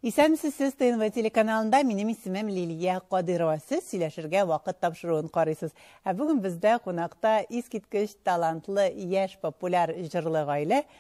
Исәнмесез сез ТНВ телеканалында. Минем исемем Лилия Кадырова. Сез сөйләшергә вакыт тапшыруын карыйсыз. Ә бүген бездә кунакта искиткеч талантлы яшь популяр җырлы гаилә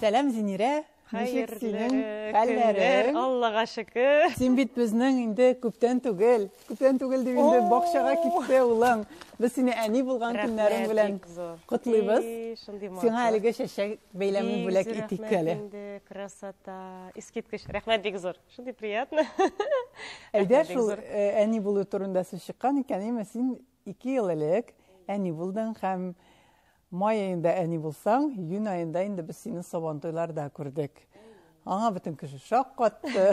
Сәлам, Зинирә! Ничек синең хәлләрең? Аллага шөкер. Син бит безнең инде күптән түгел, күптән түгел дип инде бакчага китте улың. Без сине әни булган көннәрең белән котлыйбыз. Сиңа әлеге чәчәк бәйләмен бүләк итик әле. Красота. Искиткеч. Рәхмәт бик зур. Шундый приятно. Әйдә шул әни булу турында сүз чыккан икән, әйме син Ике ел элек әни булдың һәм май аенда әни булсаң, июнь аенда инде без сине Сабантуйларда күрдек. Аңа бөтен кеше шаккатты.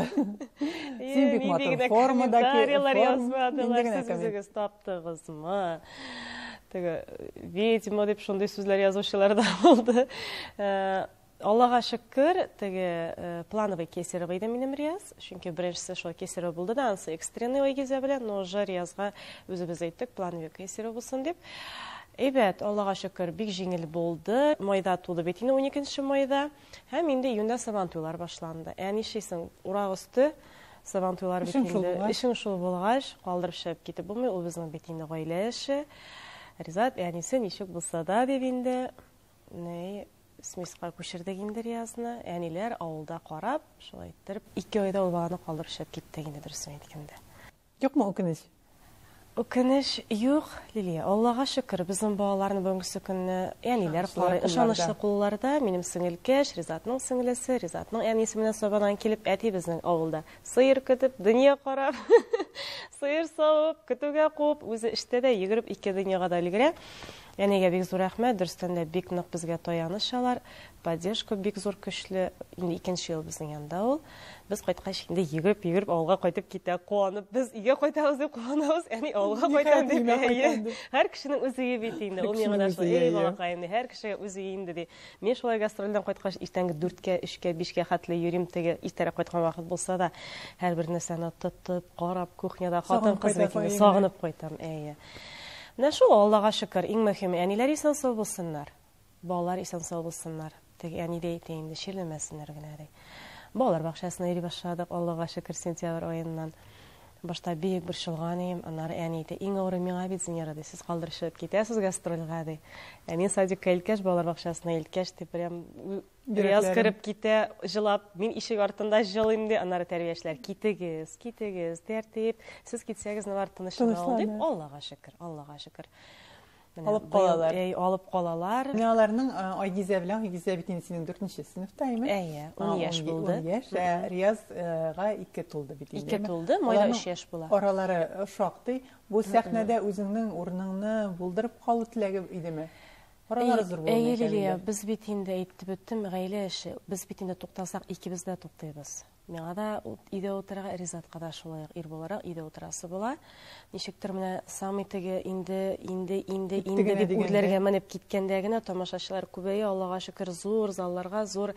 Син бик матур формада комментарийлар язмадылар, сез үзегез таптыгызмы? Теге ведьма дип шундый сүзләр язучылар да булды. Э, Аллага шөкер, теге плановый кесарево иде минем Рияз. Чөнки беренчесе шулай кесарево булды да, анысы экстренный Айгизә белән, но уже Риязга үзебез әйттек, плановый кесарево булсын дип. Әйбәт, Аллага шөкер, бик җиңел булды. Майда туды бит инде 12 майда. Һәм инде июньдә сабан туйлар башланды. Ә нишлисең, урак өсте сабан туйлар бит инде. Эшең шул булгач, калдырып чыгып китеп булмый, ул безнең бит инде гаилә эше. Ризат, әнисе ничек булса да дип инде Ней, смеска күчердек инде Риязны. Әниләр авылда карап, шулай иттереп, ике айда ул баланы калдырып чыгып киттек инде дөресен әйткәндә. Юкмы үкенеч? Үкенеч юк, Лилия. Аллага шөкер, безнең балаларны бүгенге көнне әниләр карый, ышанычлы кулларда. Минем сеңелкәш, Ризатның сеңлесе, Ризатның әнисе менә Сабадан килеп, әти безнең авылда сыер көтеп, дөнья карап, сыер савып, көтүгә куып, үзе эштә дә йөгереп ике дөньяга да өлгерә. Әнигә бик зур рәхмәт, дөрестән дә бик нык безгә таяныч алар, поддержка бик зур көчле. Инде икенче ел безнең янда ул. Без кайткач инде йөгереп, йөгереп авылга кайтып китә, куанып. Без өйгә кайтабыз дип куанабыз, әни авылга кайта дип. Никая кайта дип. Һәр кешенең үз өе бит инде. Ул миңа да шулай, әй балакай, инде һәр кешегә үз өе инде ди. Мин шулай гастрольдән кайткач иртәнге дүрткә, өчкә, бишкә хәтле йөрим, теге иртәрәк кайткан вакыт булса да, һәрбер нәрсәне тотып, карап, кухняда хатын-кыз бит инде, сагынып кайтам, әйе. Менә шул, Аллага шөкер, иң мөһиме, әниләр исән-сау булсыннар. Балалар исән-сау булсыннар. Теге әни дә әйтә инде, чирләмәсеннәр генә, ди. Балалар бакчасына йөри башладык, Аллага шөкер, сентябрь аеннан. Башта бик борчылган идем, аннары әни әйтә, иң авыры миңа бит, Зинера, ди, сез калдырышып китәсез гастрольгә, ди. Әни садикка илткәч, балалар бакчасына илткәч, ди, прям Рияз кереп китә, җылап, мин ишек артында җылыйм ди, аннары тәрбиячеләр, китегез, китегез, тәртип, сез китсәгез, нилар тынычлана ул дип, Аллага шөкер, Аллага шөкер. Алып калалар. Әй, алып калалар. Менә аларның Айгизә белән Айгизә бит инде синең 4нче сыйныфтаймы? Әйе, 10 яшь булды. 10 яшь. Риязга 2 тулды бит инде. 2 тулды, майда 3 яшь була. Аралары шактый. Бу сәхнәдә үзеңнең урыныңны булдырып калу теләге идеме? Аралары зур булмый. Әйе, Лилия, без бит инде әйтеп беттем, гаилә эше. Без бит инде туктасак, икебез дә туктыйбыз. Миңа да өйдә утырырга, Ризатка да шулай ук ир буларак өйдә утырасы була. Ничектер менә самый теге инде, инде, инде, инде дип үрләргә менеп киткәндә генә тамашачылар күбәя, Аллага шөкер, зур залларга, зур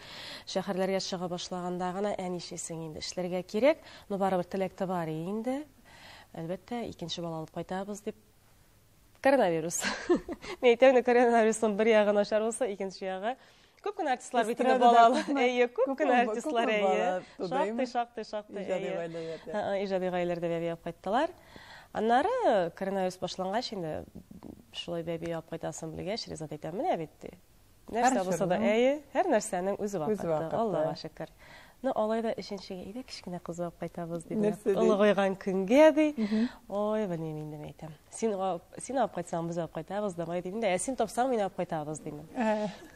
шәһәрләргә чыга башлаганда гына ә нишлисең инде, эшләргә кирәк, но барыбер теләк тә бар инде. Әлбәттә, икенче бала алып кайтабыз дип Коронавирус. Мин әйтәм инде, коронавирусның бер ягы начар булса, икенче ягы. Күп кенә артистлар бит инде балалы. Әйе, күп кенә артистлар әйе. Шактый, шактый, шактый. Иҗади гаиләләрдә. Иҗади гаиләләрдә бәби алып кайттылар. Аннары коронавирус башлангач инде шулай бәби алып кайтасын белгәч, Ризат әйтә, менә бит ди. Нәрсә булса да, әйе, һәр нәрсәнең үз вакыты. Аллага шөкер. Ну, алай да өченчегә иде, кечкенә кыз булып кайтабыз диде. Олыгайган көнгә ди. Ой, белмим инде әйтәм. Син син алып кайтсаң, без алып кайтабыз, давай дидем дә, ә син тапсаң, мин алып кайтабыз дидем.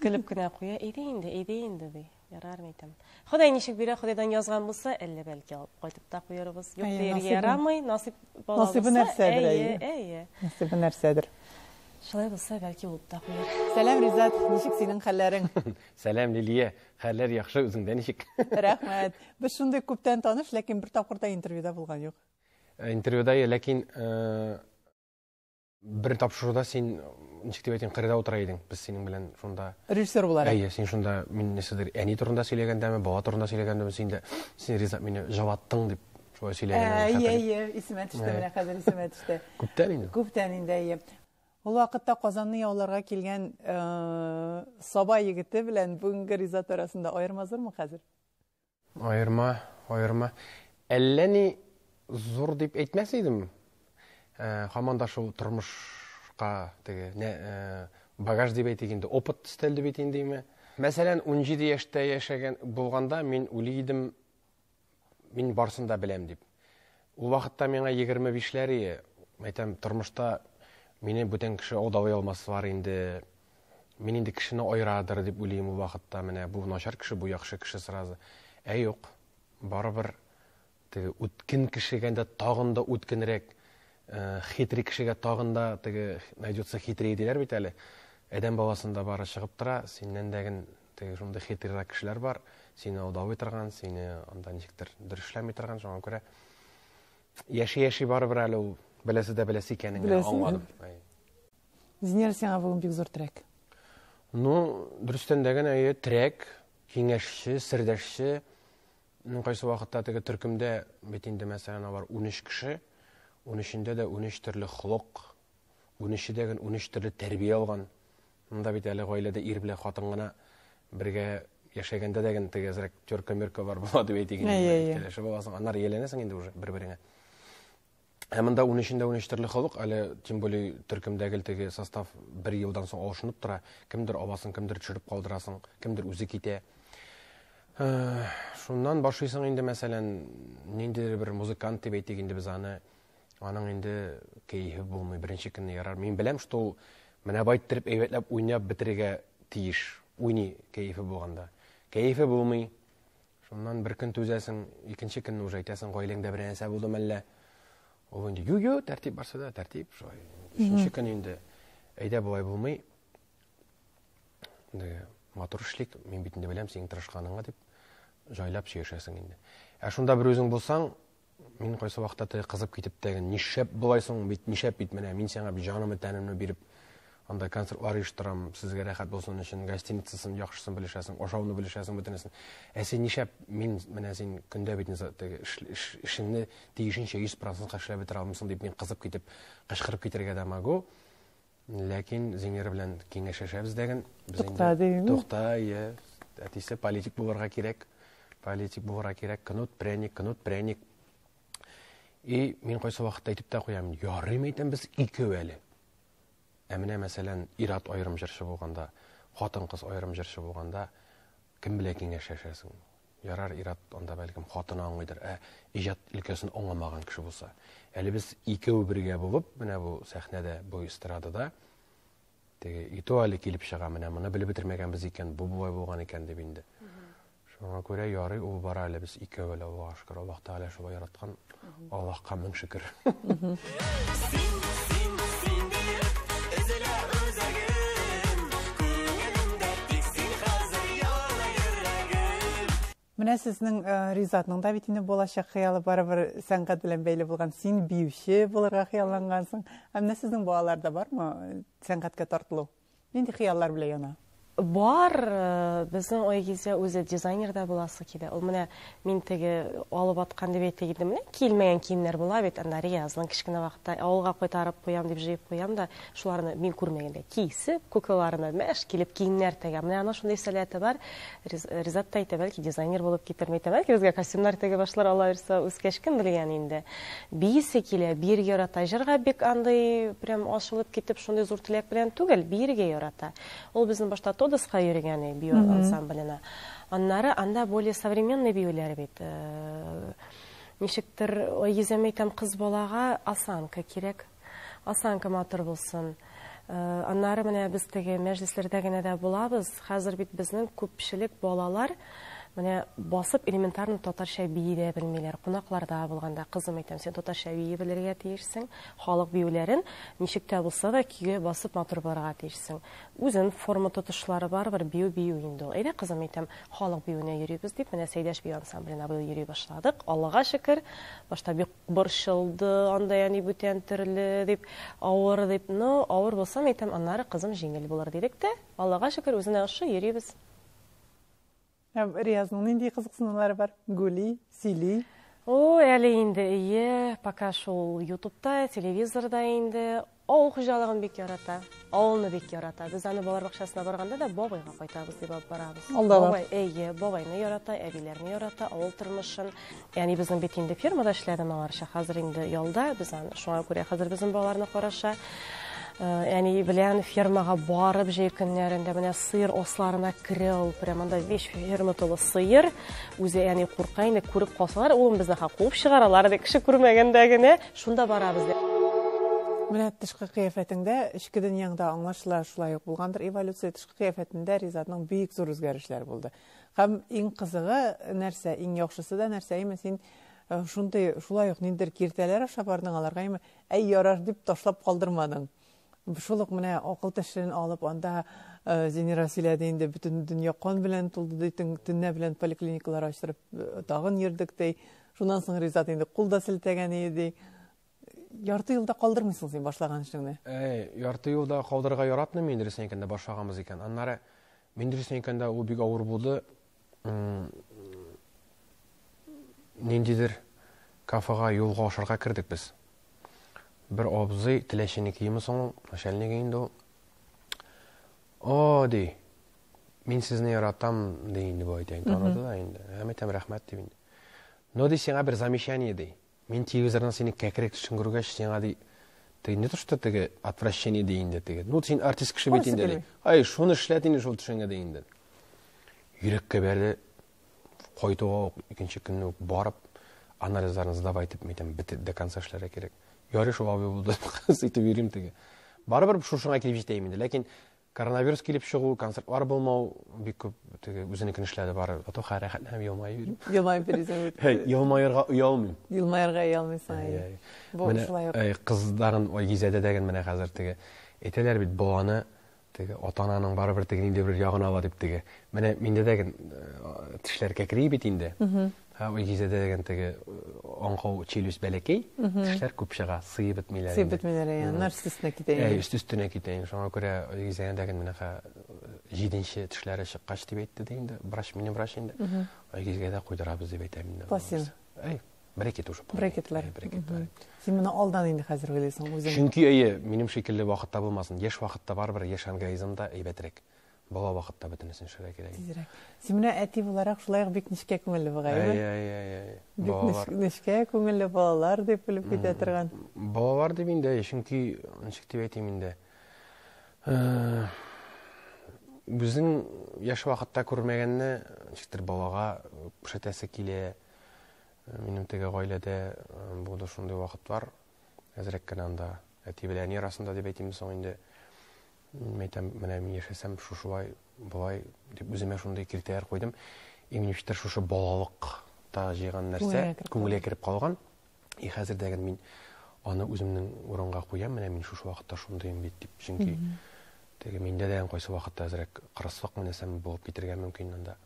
Көлеп кенә куя, иде инде, иде инде ди. Ярар микән? Ходай ничек бирә, Ходайдан язган булса, әллә бәлки алып кайтып та куярбыз. Юк Әйе, дияргә насыйбы- ярамый, насыйп бала насыйбы булса, нәрсәдер, әйе, әйе. әйе. Насыйбы нәрсәдер. Шулай булса, бәлки булып та куяр. Сәлам, Ризат, ничек синең хәлләрең? Сәлам, Лилия. Хәлләр яхшы, үзеңдә ничек? Рәхмәт. Без шундый күптән таныш, ләкин бер тапкыр да интервьюда булган юк. Интервьюда, ләкин э, Бер тапшыруда син ничек дип әйтим, кырыда утыра идең. Без синең белән шунда режиссер буларак. Әйе, син шунда мин нәрсәдер әни турында сөйләгәндәме, бала турында сөйләгәндәме, син дә син риза мине җаваттың дип шулай сөйләгән. Әйе, әйе, исемә төште менә хәзер исемә төште. Күптән инде. Күптән инде, әйе. Ул вакытта Казанны яуларга килгән э, Саба егете белән бүгенге Ризат арасында аерма зурмы хәзер? Аерма, аерма. Әллә ни зур дип әйтмәс идем. Ә, хаман да шул тормышка теге, нә, ә, багаж дип әйтик инде, опыт өстәлде бит индеме. Мәсәлән, 17 яшьтә яшәгән булганда мин уйлый идем, мин барсын да беләм дип. Ул вакытта миңа егерме бишләр ие. Әйтәм, тормышта мине бүтән кеше алдалый алмас бар инде. Мин инде кешене айрадыр дип уйлыйм ул вакытта. Менә бу начар кеше, бу яхшы кеше сразу. Ә юк, барыбер теге үткен кешегә дә тагын да үткенрәк, э, хитри кешегә тагын да теге найдется хитрее диләр бит әле. Адәм баласында бары чыгып тора, синнән дә Теге шундый хитрерәк кешеләр бар, сине алдавый торган, сине анда ничектер дөрешләми торган, шуңа күрә яши-яши барыбер әле ул беләсе дә беләсе икәнен генә аңладым. Зинер сиңа бүген бик зур терәк. Ну, дөрестән дә генә әйе, терәк, киңәшче, сердәшче. Ну, кайсы вакытта теге төркемдә бит инде мәсәлән алар 13 кеше, 13-ендә дә 13 төрле холык, 13-дә генә 13 төрле тәрбия алган. Монда бит әле гаиләдә ир белән хатын гына бергә яшәгәндә дә генә теге әзрәк терка-мөрка бар була дип әйтик инде. Кәләшеп аласың, аннары ияләнәсең инде уже бер-береңә. Ә монда ун өчендә ун өч төрле халык, әле тем более төркемдәге теге состав бер елдан соң алышынып тора. Кемдер абасын, кемдер төшереп калдырасың, кемдер үзе китә. Шуннан башлыйсың инде, мәсәлән, ниндидер бер музыкант дип әйтик инде без аны. Аның инде кәефе булмый, беренче көнне ярар. Мин беләм, что ул менә бай иттереп әйбәтләп уйнап бетерергә тиеш. Уйный кәефе булганда. Кәефе булмый. Шуннан бер көн түзәсең, икенче көнне уже әйтәсең, гаиләңдә бер нәрсә булдымы әллә? Ул инде, ю-ю, тәртип барса да, тәртип, шулай. Өченче көн инде, әйдә болай булмый. Инде матур эшлик, мин бит инде беләм синең тырышканыңны дип, җайлап сөйләшәсең инде. Ә шунда бер үзең булсаң, Мин кайсы вакытта теге кызып китеп тә, нишләп болай соң бит, нишләп бит менә мин сиңа бит җанымны, тәнемне биреп анда концертлар оештырам, сезгә рәхәт булсын өчен, гостиницасын, яхшысын белешәсең, ашауны белешәсең бөтенесен. Ә син нишләп мин менә син көндә бит теге эшеңне тиешенчә 100% эшләп бетерә алмыйсың дип мин кызып китеп, кычкырып китәргә дә могу. Ләкин Зинер белән киңәшәшәбез дәген. Тукта дигән. Тукта, ие. Әтисе политик булырга кирәк. Политик булырга кирәк. Кнут, пряник, кнут, пряник. И мин кайсы вакытта әйтеп тә куям, ярыйм әйтәм без икәү әле. Ә менә мәсәлән, ират аерым җырчы булганда, хатын-кыз аерым җырчы булганда, кем белән киңәшәшәсең? Ярар, ир-ат анда бәлкем хатыны аңлыйдыр, ә иҗат өлкәсен аңламаган кеше булса. Әле без икәү бергә булып, менә бу сәхнәдә, бу эстрадада теге ито әле килеп чыга, менә моны белеп бетермәгәнбез икән, бу болай булган икән дип инде. Шуңа күрә ярый ул бара әле без икәү әле Аллага шөкер, Аллаһ Тәгалә шулай яраткан, Аллаһка мең шөкер. Менә сезнең э, Ризатның да бит инде булачак хыялы барыбер сәнгать белән бәйле булган. Син биюче булырга хыяллангансың. Ә менә сезнең балаларда бармы э, сәнгатькә тартылу? Нинди хыяллар белән яна? Бар, безнең Айгизә үзе дизайнер да буласы килә. Ул менә мин теге алып аткан дип әйтә идем, менә килмәгән киемнәр була бит, анда Риязның кечкенә вакытта авылга кайтарып куям дип җыеп куям да, шуларны мин күрмәгәндә кисеп, куклаларына мәш килеп киемнәр тегә. Менә аның шундый сәләте бар. Ризат та әйтә, бәлки дизайнер булып китер микән, бәлки безгә костюмнар тегеп башлар, алайса үскәч кем белгән инде. Биисе килә, биергә ярата. Җырга бик андый прям ашылып китеп, шундый зур теләк белән түгел, биергә ярата. Ул безнең башта Тодоска йөргән иде, бию ансамбленә. Аннары анда более современный биюләр бит. Э, ничектер, йөзәм әйтәм, кыз балага осанка кирәк. Осанка матур булсын. Э, аннары менә без теге мәҗлесләрдә генә дә булабыз. Хәзер бит безнең күпчелек балалар менә басып элементарно татарча бии дә белмиләр. Кунакларда булганда кызым әйтәм, син татарча бии белергә тиешсең. Халык биюләрен ничек тә булса да көйгә басып матур булырга тиешсең. Үзен форма тотышлары бар бер бию бию инде ул. Әйдә кызым әйтәм, халык биюенә йөрибез дип, менә Сәйдәш бию ансамбленә быел йөри башладык. Аллага шөкер, башта бик Борчылды, анда әни бүтән төрле, дип, авыр, дип. Ну, авыр булса, мәйтәм, аннары кызым җиңел булыр, дидек тә, Аллага шөкер, үзенә ошый, йөрибез. Ә Риязның нинди кызыксынулары бар? Гули, сөйли? Ул әле инде, ие, пока шул ютубта, телевизорда инде. Авыл хуҗалыгын бик ярата, авылны бик ярата. Без аны балалар бакчасына барганда да бабайга кайтабыз дип алып барабыз. Бабай, әйе, бабайны ярата, әбиләрне ярата, авыл тормышын. Яни безнең бит инде фермада эшләде моңарча, хәзер инде ялда, без аны шуңа күрә хәзер безнең балаларны караша. Әни э, белән фермага барып җәй көннәрендә менә сыер осларына керә ул. Прямо анда весь ферма тулы сыер. Үзе әни курка инде, күреп калсалар, улым безне ха куып чыгаралар, ди кеше күрмәгәндә генә. Шунда барабыз бит. Менә тышкы кыяфәтеңдә, эчке дөньяң да аңлашыла, шулай ук булгандыр эволюция, тышкы кыяфәтендә Ризатның бик зур үзгәрешләре булды. Һәм иң кызыгы нәрсә, иң яхшысы да нәрсә, имә син шундый, шулай ук ниндидер киртәләр аша бардың аларга, имә, әй, ярар, дип ташлап калдырмадың. Шул ук менә акыл тәшрен алып, анда Зинира сөйләде инде, бөтен дөнья кан белән тулды ди, төннә белән поликлиникалар ачтырып тагын йөрдек ди. Шуннан соң Ризат инде кул да селтәгән иде ди. Ярты юлда калдырмыйсың син башлаган эшеңне. Әй, ярты юлда калдырырга яратмыйм мин Рөстәм икәндә башлаганбыз икән. Аннары мин Рөстәм икәндә ул бик авыр булды. ниндидер кафега юлга ашарга кердек без. Бер абзый теләчене киеме соң, начальник инде ул. О, ди. Мин сезне яратам, ди инде бу әйтәйин. Таныды да инде. Һәм әйтәм рәхмәт дип инде. Но ди сиңа бер замечание ди. Мин телевизордан синең кәкре кешең күргәч, сиңа ди, теге не то что теге отвращение ди инде теге. Ну син артист кеше бит инде ди. Ай, шуны эшләт инде шул төшеңә ди инде. Йөрәккә бәрде. Кайтуга ук икенче көнне үк барып анализларын сдавай дип әйтәм, бит до конца эшләргә кирәк. Ярый шул абый булды. Ситеп йөрим теге. Барыбер шушыңа килеп җитәем инде, ләкин Коронавирус килеп чыгу, концертлар булмау, бик күп теге үзенекен эшләде бары. Фатуха рәхәтле һәм елмаеп йөри. Елмаеп йөрисең. Һәй, елмаерга оялмыйм. Елмаерга оялмыйсың. Әй, әй. Бу шулай ук. Әй, кызларын ой гизәдә дәген менә хәзер теге. Әйтәләр бит, баланы теге ата-ананың барыбер теге нинди бер ягын ала дип теге. Менә миндә дәген тешләр кәкри бит инде. Ә Илгизәдә дигән теге аңкау челюсть бәләкәй, тешләр күп чыга, сыеп бетмиләр. Сыеп бетмиләр, ә аннар өстенә китә инде. Ә өстенә китә инде. Шуңа күрә Илгизәдә дигән менәха җиденче тешләре чыккач дип әйтте дә инде. Врач мине врач инде. Илгизәдә куйдырабыз дип әйтә мине. Пластин. Әй, брекет уже. Брекетлар. Брекетлар. Син моны алдан инде хәзер уйлыйсың үзең. Чөнки әйе, минем шикелле вакытта булмасын. Яшь вакытта барыбер яшь организмда әйбәтрәк. Бала вакытта бөтенесен эшләргә кирәк. Тизрәк. Син менә әти буларак шулай ук бик нечкә күңелле бугай, әйе? Әйе, әйе, әйе. Бик нечкә күңелле балалар дип белеп китә торган. Балалар дип инде, чөнки ничек дип әйтим инде. Э, үзең яшь вакытта күрмәгәнне ничектер балага күрсәтәсе килә. Э, минем теге гаиләдә э, булды шундый вакытлар. Әзрәк кенә анда әти белән әни арасында дип әйтимме соң инде. Мин әйтәм, менә мин яшәсәм шушылай, болай дип үземә шундый киртәләр куйдым. Иминштер шушы балалыкта җыйган нәрсә күңелгә кереп калган. И хәзер дә мин аны үземнең урынга куям, менә мин шушы вакытта шундыйм бит дип. Чөнки теге миндә дә кайсы вакытта әзрәк кырыслык менәсәм булып китергә мөмкин монда.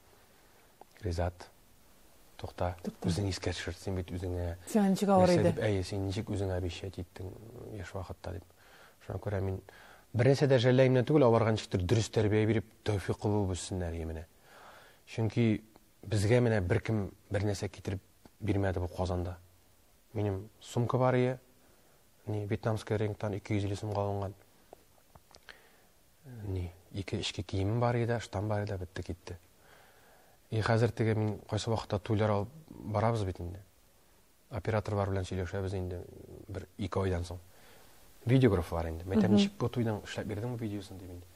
Ризат, тукта, үзең искә төшер, син бит үзеңә... Сиңа ничек авыр иде? Әйе, син ничек үзеңә обещать иттең яшь вакытта дип. Шуңа күрә мин бер нәрсә дә жәлләемнән түгел, аларга ничектер дөрес тәрбия биреп, тәүфикы булып үссеннәр именә. Чөнки безгә менә беркем бер нәрсә китереп бирмәде бу Казанда. Минем сумка бар ие, не вьетнамская ренктан 250 сумга алынган. Ни, ике эчке киемем бар иде, штам бар иде, бетте китте. И хәзер теге мин кайсы вакытта туйлар алып барабыз бит инде. Оператор бар белән сөйләшәбез инде бер ике айдан соң. Видеограф бар инде. Мәйтәм ничек бу туйның эшләп бирдең бу видеосын дип инде.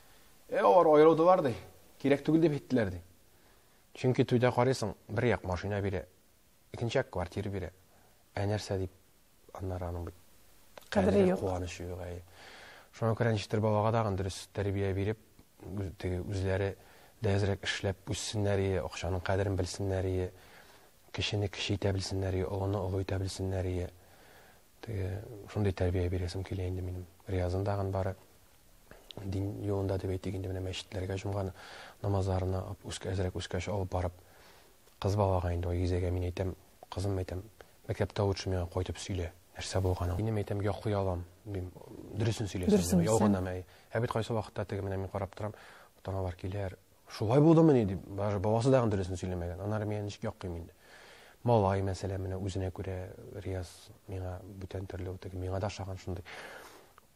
Э, алар аерылдылар ди. Кирәк түгел дип әйттеләр ди. Чөнки туйда карыйсың, бер як машина бирә, икенче як квартира бирә. Ә нәрсә дип, аннары аның бит кадере юк. Куанычы юк, әй. Шуңа күрә ничектер балага да дөрес тәрбия биреп, теге үзләре дә әзрәк эшләп үссеннәр ие, акчаның кадерен белсеннәр ие, кешене кеше итә белсеннәр ие, олыны олы итә белсеннәр ие. Теге шундый тәрбия бирәсем килә инде минем. Риязын дагын бары дин юлында дип әйтик инде менә мәчетләргә җомга намазларына үскә әзрәк үскәч алып барып Кыз балага инде ул Гизәгә мин әйтәм, кызым, әйтәм, мәктәптә лучше миңа кайтып сөйлә, нәрсә булганын. Минем әйтәм, яклый алам, дим, дөресен сөйләсәң, ялганамы, әй. Ә бит кайсы вакытта теге менә мин карап торам, ата-аналар киләр, шулай булдымыни, дип, даже баласы да дөресен сөйләмәгән. Аннары миңа ничек яклыйм инде. Малай, мәсәлән, менә үзенә күрә Рияз миңа бүтән төрле, ул теге миңа да ошаган шундый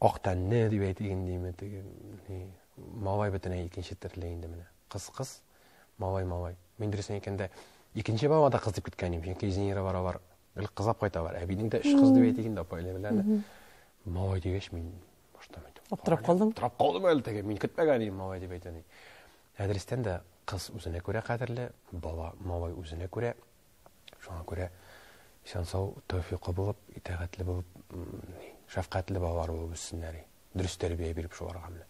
ак тәнле дип әйтик инде, теге, ни, малай бөтенләй икенче төрле инде менә. Кыз, кыз, Малай, малай. Мин дөресен әйткәндә, икенче бала да кыз дип көткән идем, чөнки Зинира баралар, бер кызлап кайталар. Әбинең дә өч кыз дип әйтик инде, апа әле белән. Малай дигәч, мин баштан әйттем. Аптырап калдым. Аптырап калдым әле теге, мин көтмәгән идем малай дип әйтәни. Әдрестән дә кыз үзенә күрә кадерле, бала малай үзенә күрә. Шуңа күрә исән сау, тәүфиқлы булып, итәгатьле булып, шәфкатьле балалар булып үссеннәр. дөрес тәрбия биреп шуарганны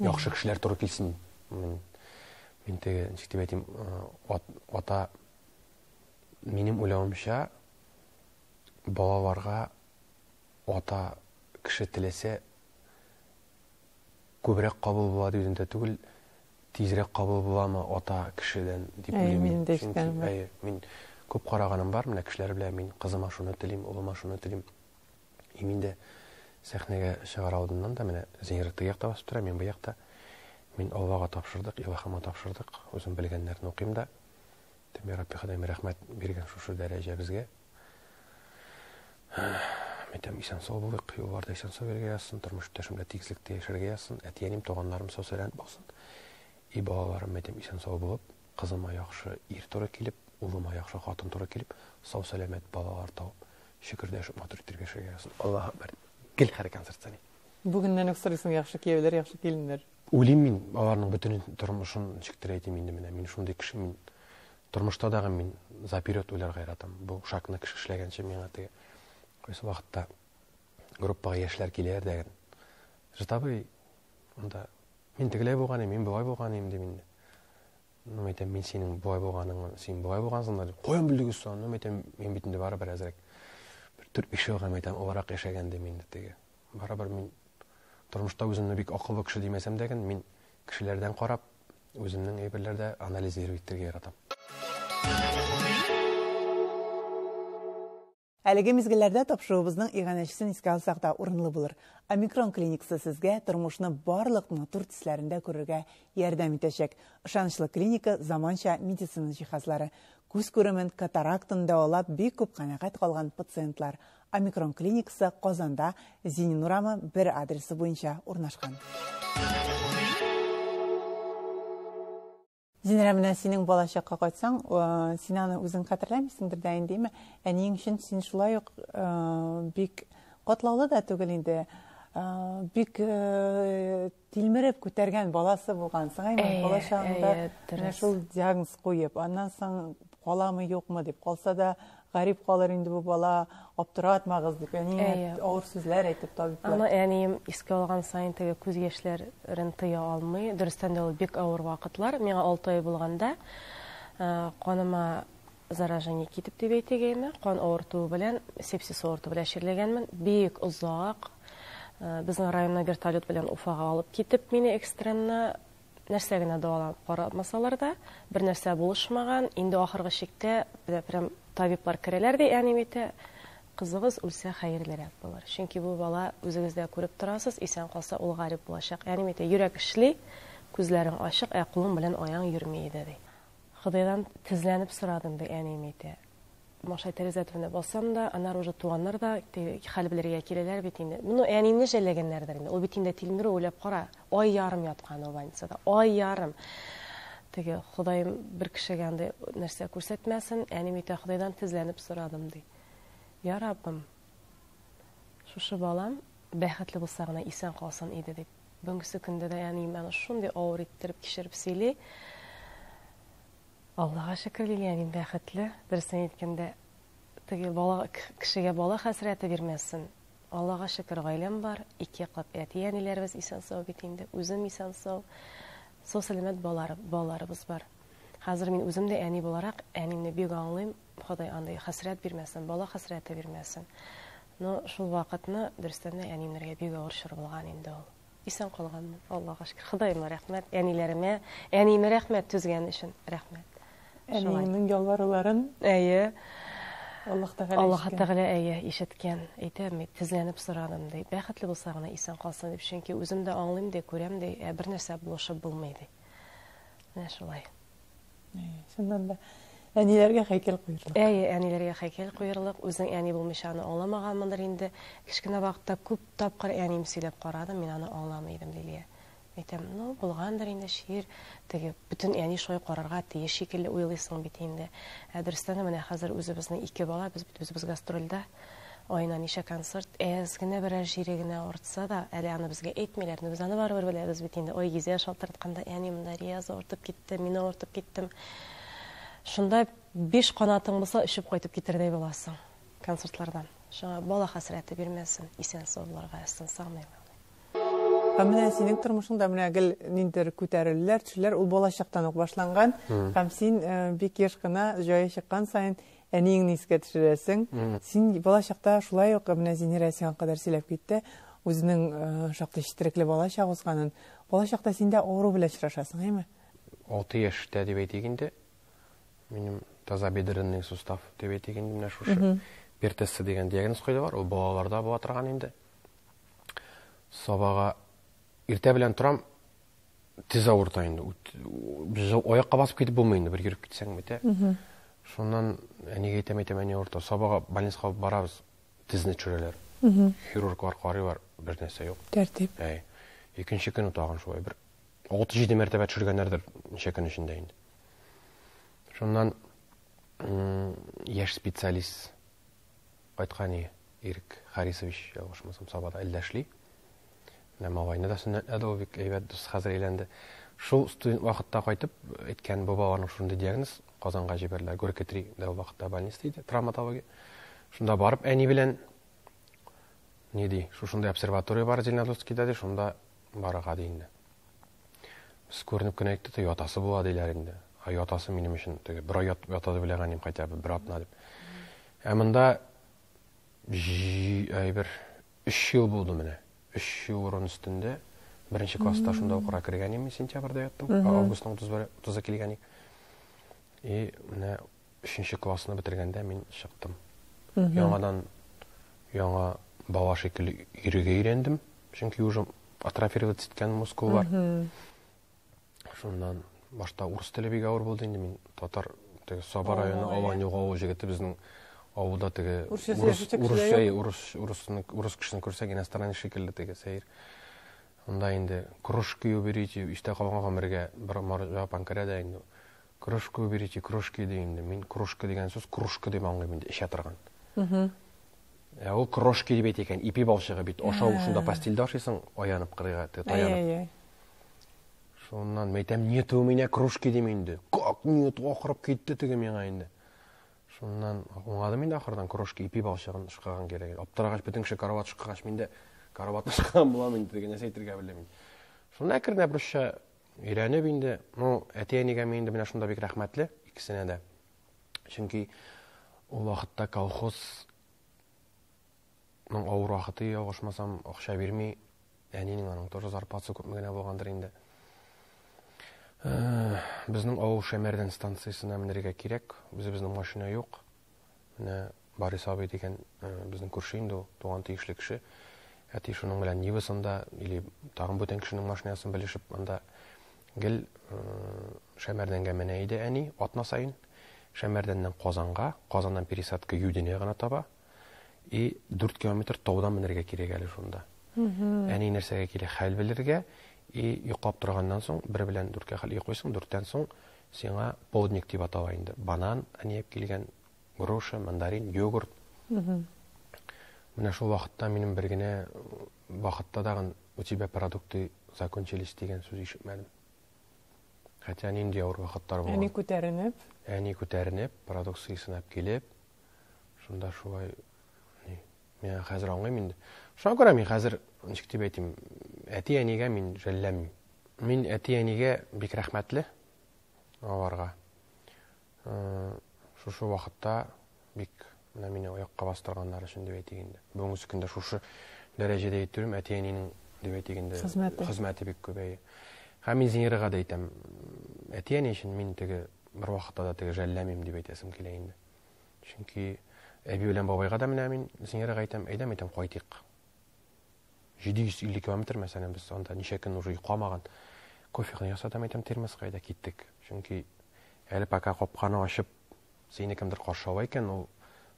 яхшы кешеләр туры килсен мин теге ничек дип әйтим ата минем уйлавымча балаларга ата кеше теләсә күбрәк кабул була дигәндә түгел тизрәк кабул буламы ата кешедән дип уйлыйм мин күп караганым бар менә кешеләр белән мин кызыма шуны телим улыма шуны телим И мин дә сәхнәгә чыгар алдыннан да менә Зинер теге якта басып тора, мин бу якта. Мин Аллага тапшырдык, Илаһыма тапшырдык. Үзем белгәннәрне укыйм да. Тем я Рабби Ходаем рәхмәт биргән шушы дәрәҗә безгә. Мәйтәм исән сау булыйк, юлларда исән сау йөрергә язсын, тормыш иптәшемдә тигезлектә яшәргә язсын, әтиәнем, туганнарым сау-сәламәт булсын. И балаларым, мәйтәм исән сау булып, Кызыма яхшы ир туры килеп, улыма яхшы хатын туры килеп, сау-сәламәт балалар тавып, чөкердәшеп матур иттереп яшәргә язсын. Аллаһ Әкбәр. Гел хәрәкән сырцани. Бүгеннән үк сорыйсың яхшы кияүләр, яхшы киленнәр. Уйлыйм мин, аларның бөтен тормышын ничектер әйтим инде менә. Мин шундый кеше, мин тормышта дагы мин заперёд уйларга яратам. Бу шагны кеше эшләгәнче миңа теге кайсы вакытта группага яшьләр киләләр дә, Житабый, анда Мин тегеләй булган идем, мин болай булган идем, дим инде. Ну, әйтәм, мин синең болай булганың, син болай булгансың да, дип, каян белдегез соң? Ну, әйтәм, мин бит инде барыбер әзрәк. Бер төрт биш елга, әйтәм, олырак яшәгән дим инде теге. Барыбер мин тормышта үземне бик акыллы кеше димәсәм дә, мин кешеләрдән карап, үземнең әйберләрдә анализ итәргә яратам. Әлеге мизгелләрдә тапшыруыбызның иганәчесен искә алсак та урынлы булыр. Омикрон клиниксы сезгә тормышны барлык матур төсләрендә күрергә ярдәм итәчәк. Ышанычлы клиника, заманча медицина җиһазлары. Күз күремен, катарактаны дәвалап бик күп канәгать калган пациентлар. Омикрон клиникасы Казанда, Зинин урамы, бер адресы буенча урнашкан. Зинрә, менә синең балачакка кайтсаң, син аны үзең хәтерләмисеңдер дә инде, әйме? Әниең өчен син шулай ук бик катлаулы да түгел инде. Бик тилмереп күтәргән баласы булгансың, әйме? Балачагыңда менә шул диагноз куеп, аннан соң каламы, юкмы дип, калса да Гарип калыр инде бу бала, аптыратмагыз дип, әни авыр сүзләр әйтеп табиблар. Аны әнием искә алган саен теге күз яшьләрен тыя алмый. Дөрестән дә ул бик авыр вакытлар. Миңа 6 ай булганда каныма заражение китеп дип әйтегәйме, кан авыртуы белән, сепсис авыртуы белән чирләгәнмен. Бик озак безнең районна вертолет белән Уфага алып китеп мине экстренно Нәрсә генә дәваланып карамасалар да, бернәрсә булышмаган, инде ахыргы чиктә прям табиблар керәләр дә әни әйтә, Кызыгыз үлсә хәерлерәк булыр. Чөнки бу бала, үзегез дә күреп торасыз, исән калса, ул гарип булачак. Әни әйтә, Йөрәк эшли, күзләрең ачык, ә кулың белән аяң йөрми иде, ди. Ходайдан тезләнеп сорадым, ди әни әйтә. Маша тәрәзә төбенә басам да, аннары уже туганнар да теге хәл белергә киләләр бит инде. Моны әнине жәлләгәннәрдер инде. Ул бит инде тилмерү, уйлап кара, ай ярым яткан ул больницада. Ай ярым! Теге, Ходаем бер кешегә андый нәрсә күрсәтмәсен, әним әйтә, Ходайдан тезләнеп сорадым, ди. Я Раббым, шушы балам бәхетле булса гына исән калсын иде, дип. Бүгенге көндә дә әнием аны шундый авыр иттереп кичереп сөйли. Аллага шөкер Лилия, мин бәхетле. Дөресен әйткәндә, теге бала кешегә бала хәсрәте бирмәсен. Аллага шөкер, гаиләм бар, ике яклап әти-әниләребез исән сау бит инде, үзем исән сау. Сау сәламәт балалар, балаларыбыз бар. Хәзер мин үзем дә әни буларак, әнине бик аңлыйм. Ходай андый хәсрәт бирмәсен, бала хәсрәте бирмәсен. Но шул вакытны дөрестән дә әниемнәргә бик авыр чор булган инде ул. Исән калганмын, Аллага шөкер. Ходаема рәхмәт, әниләремә, әниемә рәхмәт түзгән өчен. Рәхмәт. Әниеңнең ялваруларын? Әйе. Аллаһ Тәгалә Аллаһ Тәгалә әйе ишеткән. Әйтәм, мин тезләнеп сорадым ди. Бәхетле булса гына исән калсын дип, чөнки үзем дә аңлыйм ди, күрәм ди, ә бер нәрсә булышып булмый ди. Менә шулай. Чыннан да әниләргә хәйкәл куерлык. Әйе, әниләргә хәйкәл куерлык. Үзең әни булмыйча аны аңламаганмындыр инде. Кечкенә вакытта күп тапкыр әнием сөйләп карадым, мин аны аңламый идем, Лилия. Әйтәм, ну, булгандыр инде шиир, теге бөтен әни шулай карарга тиеш шикелле уйлыйсың бит инде. Ә дөрестән дә менә хәзер үзебезнең ике бала, без бит үзебез гастрольдә. Аена ничә концерт, әз генә берәр җире генә авыртса да, әле аны безгә әйтмиләр, но без аны барыбер беләбез бит инде, ой, Гизә шалтыртканда, әни, монда Рияз авыртып китте, мин авыртып киттем. Шунда биш канатың булса, очып кайтып китердәй буласың концертлардан. Шуңа бала хәсрәте бирмәсен, исән-сау булырга язсын, сагыным. Һәм менә синең тормышыңда менә гел ниндидер күтәрелүләр, төшүләр ул балачактан ук башланган. Һәм син бик еш кына җае чыккан саен Әниеңне искә төшерәсең. Син бала чакта шулай ук менә Зинирә сиңа кадәр сөйләп китте, үзенең э, шактый четерекле бала чак узганын. Бала чакта син дә авыру белән очрашасың, әйме? Алты яшьтә дип әйтик инде. Минем таза бедренный сустав дип әйтик инде менә шушы. Пертессы дигән диагноз куйдылар. Ул балаларда була торган инде. Сабага иртә белән торам, тез авырта инде без аякка басып китеп булмый инде бер йөреп китсәң бит ә шуннан әнигә әйтәм әйтәм әни авырта сабага больницага алып барабыз тезне төшерәләр хирурглар карыйлар бер нәрсә юк тәртип әй икенче көн тагын шулай бер алты җиде мәртәбә төшергәннәрдер ничә көн эчендә инде шуннан яшь специалист Кайткан ие, Ирек Харисович, ялгышмасам, Сабада әллә эшли. Менә малайны да сөннәтләде ул, бик әйбәт дус, хәзер әйләнде. Шул студент вакытта кайтып, әйткән бабаларның шундый диагноз, Казанга җибәрделәр, Горькотри дә ул вакытта больница иде, травматология. Шунда барып әни белән ни ди, шушында обсерватория бар Зеленодольскида ди, шунда барырга ди инде. Без күренеп кенә әйтте дә, ятасы була диләр инде. А ятасы минем өчен теге бер ай ята дип уйлаганым кайтя, бер атна дип. Ә монда әйбер 3 ел булды менә. 3 ел урын өстендә беренче класста шунда укырга кергән идем, сентябрьдә яттым. Августның 30-ы килгән идек. И менә Өченче классны бетергәндә мин чыктым. Яңадан яңа бала шикелле йөрергә өйрәндем, чөнки уже атрофироваться иткән мускул бар. Шуннан башта урыс теле бик авыр булды инде мин татар теге Саба районы Аланюга авыл җегете безнең авылда теге урыс урыс урысны урыс кешесен күрсәк иностранец шикелле теге сәер. Анда инде кружки уберите истә калган гомергә бер марҗа панкара да инде Кружку берите, кружки ди инде. Мин кружка дигән сүз кружка дип аңлыйм инде, эчә торган. Ә ул кружки дип әйтә икән, ипи балчыгы бит. Ашау шунда постельдә ашыйсың, аянып кырыйга, таянып. Шуннан мәйтәм, нету меня кружки дим инде. Как нет, акырып китте теге миңа инде. Шуннан аңладым инде ахырдан кружки ипи балчыгын шыкаган кирәк. Аптырагач бөтен кеше карават шыкагач, мин дә караватны шыкаган булам инде, теге нәрсә әйтергә белмим. Шунда әкренләп русча Өйрәнеп инде, ну, әти-әнигә мин инде менә шунда бик рәхмәтле, икесенә дә. Чөнки ул вакытта колхоз ну, авыр вакыты ялгышмасам, акча бирми. Әнинең аның тоже зарплатасы күпме генә булгандыр инде. Э, безнең авыл Шәмәрдән станциясенә менәргә кирәк. Үзебезнең машина юк. Менә Барис абый дигән безнең күрше инде ул, туган тиешле кеше. Әти шуның белән Нивасында или тагын бүтән кешенең машинасын белешеп, анда гел Шәмәрдәнгә менә иде әни атна саен. Шәмәрдәннән Казанга, Казаннан пересадка Юдине гына таба. И 4 километр таудан менергә кирәк әле шунда. Әни нәрсәгә килә, хәл белергә. И йоклап торганнан соң, бер белән дүрткә хәл йоклыйсың, дүрттән соң Сиңа полдник дип атала инде. Банан, әниәк килгән, груша, мандарин, йогурт. Менә шул вакытта минем бер генә вакытта дагын у тебя продукты закончились дигән сүз ишетмәдем. Хәтя нинди авыр вакыттар булган. Әни күтәренеп. Әни күтәренеп, продукция сынап килеп, шунда шулай Мин хәзер аңлыйм инде. Шуңа күрә мин хәзер ничек дип әйтим, әти-әнигә мин жәлләмим. Мин әти-әнигә бик рәхмәтле аларга. Э, шушы вакытта бик менә мине аякка бастырганнар өчен дип әйтик инде. Бүгенге көндә шушы дәрәҗәдә итүем әти-әнинең дип әйтик инде хезмәте. Хезмәте бик күбәйе. Һәм мин Зинирага да әйтәм, әти-әни өчен мин теге бер вакытта да теге жәлләмим дип әйтәсем килә инде. Чөнки әби белән бабайга да менә мин зиярәгә әйтәм, әйдәм әйтәм, кайтыйк. 750 километр мәсәлән без анда ничә көн уже йокламаган. Кофены ясатам әйтәм термоска әйдә киттек. Чөнки әле пока капканы ачып сине кемдер каршы ала икән, ул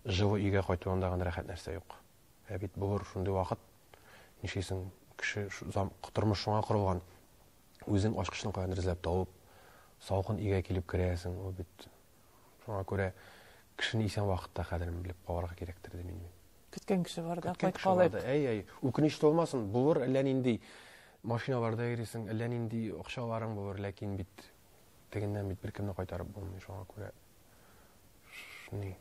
җылы өйгә кайтуында гына рәхәт нәрсә юк. Ә бит булыр шундый вакыт. Нишлисең, кеше тормыш шуңа корылган. Үзең ачкычны каян эзләп табып, салкын өйгә килеп керәсең, ул бит Шуңа күрә кешене исән вакытта кадерен белеп калырга кирәктер дим мин. Көткән кеше бар да кайткалы. Әй, әй, үкенеч тулмасын, булыр әллә нинди машиналарда йөрисең, әллә нинди акчаларың булыр, ләкин бит тегеннән бит беркемне кайтарып булмый, шуңа күрә шуны